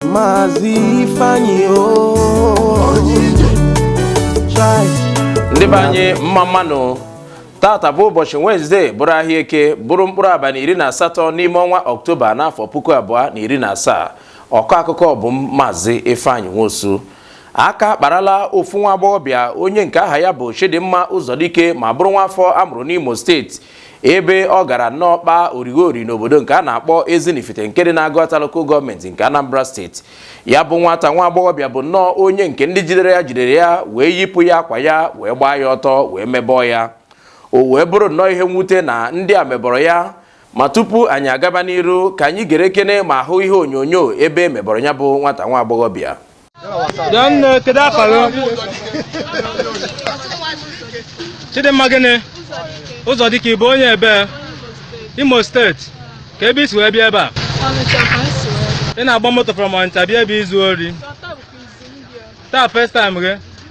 Maazị Ifeanyi o Chai. ndị be anyị mma mmanụ taata bụ ụbọchị wenezdee bụrụ ahịa eke bụrụ mkpụrụ abalị iri na asatọ n'ime ọnwa ọktoba n'afọ puku abụọ na iri na asaa ọkọ akụkọ bụ m maazị ifeanyị nwosu aka kparala ofu nwa agbọghọbịa onye nke aha ya bụ chidimma ụzọdike ma bụrụ nwa afọ a mụrụ n'imo steeti ebe ọ gara nnọọ kpaa orighori n'obodo nke a na-akpọ Ezinifite nke dị n'Agụata Local Gọọmenti nke Anambra steeti ya bụ nwata nwa agbọghọbịa bụ nnọọ onye nke ndị jidere ya jidere ya wee yipụ ya akwa ya wee gbaa ya ọtọ wee mebọọ ya o wee bụrụ nnọọ ihe mwute na ndị a mebọrọ ya ma tupu anyị agaba n'iru ka anyị gere kene ma hụ ihe onyonyo ebe e mebọrọ ya bụ nwata nwa agbọghọbịa Adanne kedu afa gị? Chidimma gịnị? Ụzọdike ị bụ onye ebe Imo steeti ka ebe i si wee bịa ebe a ị na-agba moto from Ọnịcha bịa ebe izu ori taa first time gị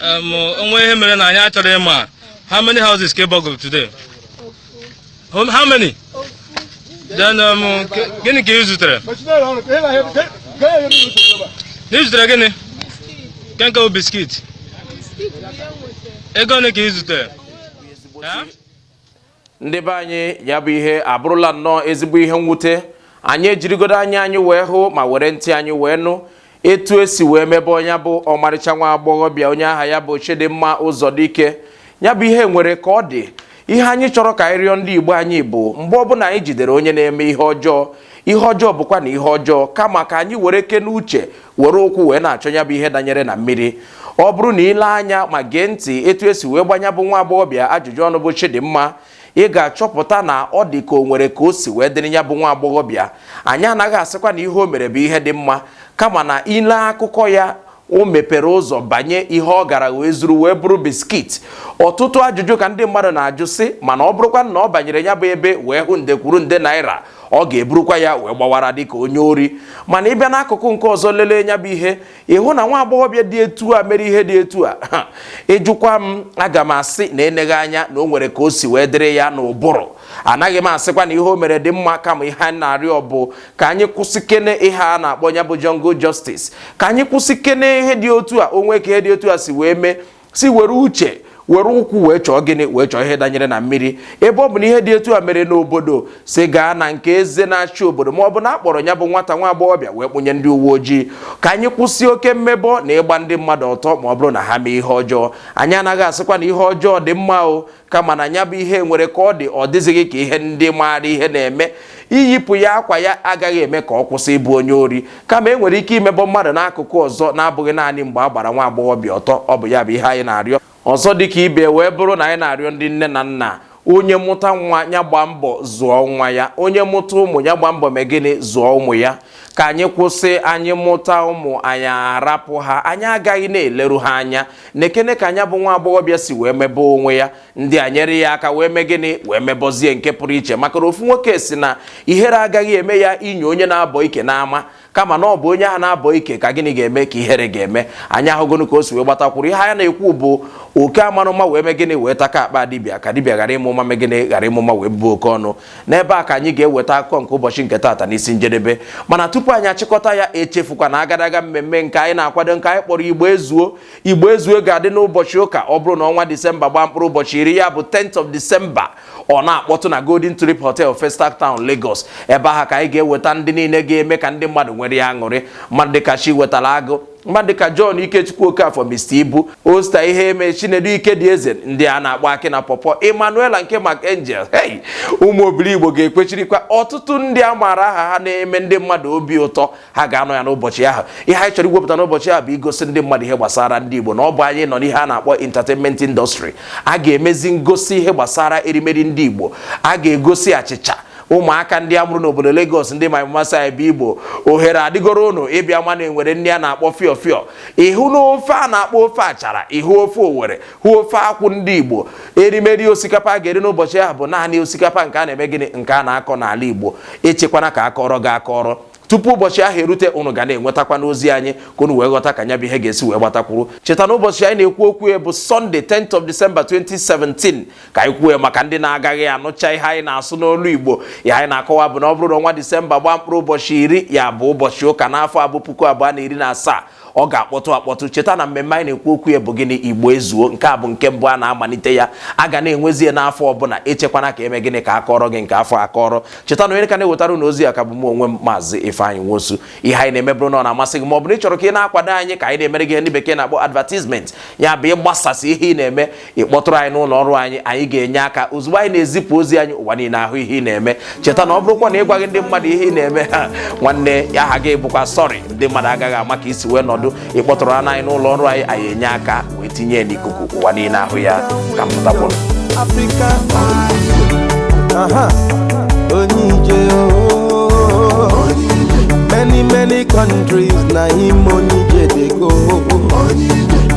Um, o nwe ihe mere na anyị achọrọ ịma how many houses ka ị burgle today um, how many then um, gịnị ka ị zutere na ị zutere gịnị kenke biskit ego ole ka ị zutere ndị be anyị ya bụ ihe abụrụla nnọọ ezigbo ihe mwute anyị ejirigodo anya anyị wee hụ ma were ntị anyị wee nụ etu e si wee mebe onye bụ ọmarịcha nwa agbọghọbịa onye aha ya bụ Chidimma Ụzọdike ya bụ ihe nwere ka ọ dị ihe anyị chọrọ ka anyị rịọ ndị Igbo anyị bụ mgbe ọbụla anyị jidere onye na-eme ihe ọjọọ ihe ọjọọ bụkwa na ihe ọjọọ kama ka anyị were kene uche were ụkwụ wee na-achọ ya bụ ihe danyere na mmiri ọ bụrụ na i lee anya ma gee ntị etu e si wee gbaa ya bụ nwa agbọghọbịa ajụjụ ọnụ bụ Chidimma ị ga-achọpụta na ọ dị ka o nwere ka o si wee dịrị ya bụ nwa agbọghọbịa anyị anaghị asịkwa na ihe o mere bụ ihe dị mma kama na i lee akụkọ ya o mepere ụzọ banye ihe ọ gara wee zuru wee bụrụ biskit ọtụtụ ajụjụ ka ndị mmadụ na-ajụ sị mana ọ bụrụkwa na ọ banyere ya bụ ebe wee hụ nde kwuru nde naira ọ ga-eburukwa ya wee gbawara dịka onye ori mana ị bịa n'akụkụ nke ọzọ lelee ya bụ ihe ị hụ na nwa agbọghọbịa dị etu a mere ihe dị etu a ị jụkwa m aga m asị na eneghị anya na o nwere ka o si wee dịrị ya n'ụbụrụ anaghị m asịkwa na ihe o mere dị mma kama ihe anyị na-arịọ bụ ka anyị kwụsị kene ihe a na-akpọ ya bụ jungle justice ka anyị kwụsị kene ihe dị otu a o nwe ka ihe dị otu a si wee mee si were uche were ụkwụ wee chọọ gịnị wee chọọ ihe danyere na mmiri ebe ọ bụ na ihe dị etu a mere n'obodo si gaa na nke eze na-achị obodo ma ọ bụ na a kpọrọ ya bụ nwata nwa agbọghọbịa wee kpụnye ndị uwe ojii ka anyị kwụsị oke mmebọ na ịgba ndị mmadụ ọtọ ma ọ bụrụ na ha mee ihe ọjọọ anyị anaghị asịkwa na ihe ọjọọ dị mma o kama na nya bụ ihe nwere ka ọ dị ọ dịzighị ka ihe ndị maara ihe na-eme iyipụ ya akwa ya agaghị eme ka ọ kwụsị ịbụ onye ori kama e nwere ike imebọ mmadụ n'akụkụ ọzọ na-abụghị naanị mgbe a gbara nwa agbọghọbịa ọtọ ọ bụ ya bụ ihe anyị na-arịọ ọzọ dịka ibe ya wee bụrụ na anyị na-arịọ ndị nne na nna onye mụta nwa nya gbaa mbọ zụọ nwa ya onye mụta ụmụ nya gbaa mbọ mee gịnị zụọ ụmụ ya ka anyị kwụsị anyị mụta ụmụ anyị arapụ ha anyị agaghị na-eleru ha anya nekene ka nya bụ nwa agbọghọbịa si wee mebe onwe ya ndị a nyere ya aka wee mee gịnị wee mebọzie nke pụrụ iche maka na ofu nwoke sị na ihere agaghị eme ya inye onye na-abọ ike n'ama kama na ọ bụ onye ahụ na-abọ ike ka gịnị ga-eme ka ihere ga-eme anyị ahụgonu ka o si wee gbatakwuru ihe anyị na-ekwu bụ oke amala ụma wee mee gịnị wee taka akpa dibịa ka dibịa ghara ịma ụma mee gịnị ghara ịma ụma wee bụọ oke ọnụ n'ebe a ka anyị ga-eweta akụkọ nke ụbọchị nke taata n'isi njedebe mana tupu anyị achịkọta ya echefukwa na agadaga mmemme nke anyị na-akwado nke anyị kpọrọ igbo ezuo igbo ezuo ga-adị n'ụbọchị ụka ọ bụrụ na ọnwa disemba gbaa mkpụrụ ụbọchị iri ya bụ 10th of December ọ na-akpọtụ na Golden Tulip Hotel Festac Town Lagos ebe ahụ ka anyị ga-eweta ndị niile ga-eme ka ndị mmadụ nwere ya aṅụrị mmadụ dịka Chiwetalu Agụ mmadụ ka John Ikechukwu Okafọ Mr Ibu Osita Iheme Chinedu Ikedieze ndị a na-akpọ akị na pọpọ Emmanuela nke Mark Angel hey Ụmụ Obiligbo ga-ekwechirikwa ọtụtụ ndị a maara aha ha na-eme ndị mmadụ obi ụtọ ha ga-anọ ya n'ụbọchị ahụ ihe anyị chọrọ iwepụta n'ụbọchị ahụ bụ igosi ndị mmadụ ihe gbasara ndị Igbo na ọ bụ anyị nọ n'ihe a na-akpọ entertainment industry a ga-emezi ngosi ihe gbasara erimeri ndị Igbo a ga-egosi achịcha ụmụaka ndị a mụrụ n'obodo Lagos ndị ma mmasị anyị bụ Igbo ohere adịgoro ụnụ ịbịa ma na e nwere nri a na-akpọ fịọ fịọ ịhụ na ofe a na-akpọ ofe achara ịhụ ofe owere hụ ofe akwụ ndị Igbo erimeri osikapa a ga-eri n'ụbọchị ahụ bụ naanị osikapa nke a na-eme gịnị nke a na-akọ n'ala Igbo echekwana ka a kọọrọ gị akọrọ tupu ụbọchị ahụ erute ụnụ ga na-enwetakwanụ ozi anyị ka ụnụ wee ghọta ka nya bụ ihe ga-esi wee gbatakwuru cheta na ụbọchị anyị na-ekwu okwu ya bụ Sunday 10th of December 2017 ka anyị kwuo maka ndị na-agaghị anụcha ihe anyị na-asụ n'olu Igbo ihe anyị na-akọwa bụ na ọ bụrụ na ọnwa Disemba gbaa mkpụrụ ụbọchị iri ya bụ ụbọchị ụka n'afọ a bụ puku abụọ na iri na asaa ọ ga-akpọtụ akpọtụ cheta na mmemme anyị na-ekwu okwu ya bụ gịnị igbo ezuo nke a bụ nke mbụ a na-amalite ya a ga na-enwezie n'afọ ọbụla echekwana ka e mee gịnị ka a kọọrọ gị nke afọ a akọrọ cheta na onye ka na-ewetara ụnụ ozi a ka bụ m onwe m maazị Ifeanyị Nwosu ihe anyị na-eme bụrụ na ọ na-amasị gị ma ọ bụ na ị chọrọ ka ị na-akwado anyị ka anyị na-emere gị ihe ndị bekee na-akpọ advertisement ya bụ ịgbasasị ihe ị na-eme ị kpọtụrụ anyị n'ụlọ ọrụ anyị anyị ga-enye aka ozugbo anyị na-ezipụ ozi anyị ụwa niile ahụ ihe ị na-eme cheta na ọ bụrụkwa na ị gwaghị ndị mmadụ ihe ị na-eme ha nwanne ya aha gị bụkwa sorry ndị mmadụ agaghị ama ka i si wee nọdụ ị kpọtụrụnụ anyị n'ụlọ ọrụ anyị anyị enye aka wee tinye ya n'ikuku ụwa niile ahụ ya ka m pụtakwụrụ Africa Aha, Onye Ije oh. Many many countries na him Onye Ije dey go.